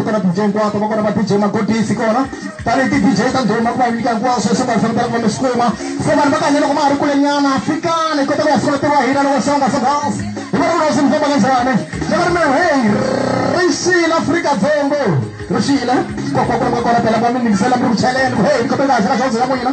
kona DJ hinkwato va kona va DJ magodisi kona tanihi ti-dj ta ndhuma ku va nyika hinkwaswo leswi vanhu fanekele ku va mi swi kuma se vanhu va kahle loko ma ha ri kulenyana fikani hi kota ku ya sungula ntirho wa hina loko songa songas hi va ri kulesi mi famba kanjhani ni va ri mi heyi rixile afrika dzongo rixile kokwakulanga kona phela va mi yingisela mi ri ku cheleni ku heyi ni khome kahle ka dyondzo ya n'wina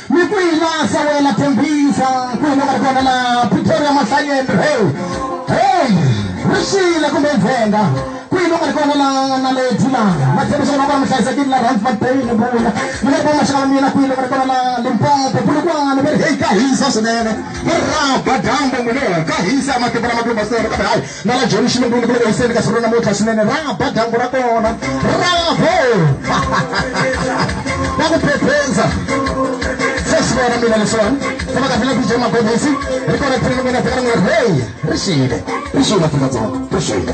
Ni kwihi laha Samuel a tshembisa ku huma ka ri kona laha Pretoria Mahlanyeni hey hey ri xile kumbe ndzhenga kwihi loku nga ri kona laha naledi laha ma tshembisa kona kona mi hlayisekile la rand mabeni ni vula ni nga ri va maxaka ma mina kwihi loku nga ri kona laha limpopo bulukwana va ri heyi ka hisa swinene va ri raba dyambu n'wini ka hisa matimba lama kulumba swona kambe hayi na la joni xilungu ni ku loko yiseni ka siku ra namuntlha swinene ra ba dyambu ra kona bravo va ku phephenza se swi vona mina leswiwani se va kahlele bije magobisi ri kona phini mina fika rin'we hey ri xile ri xile afrika-dzonga ri xile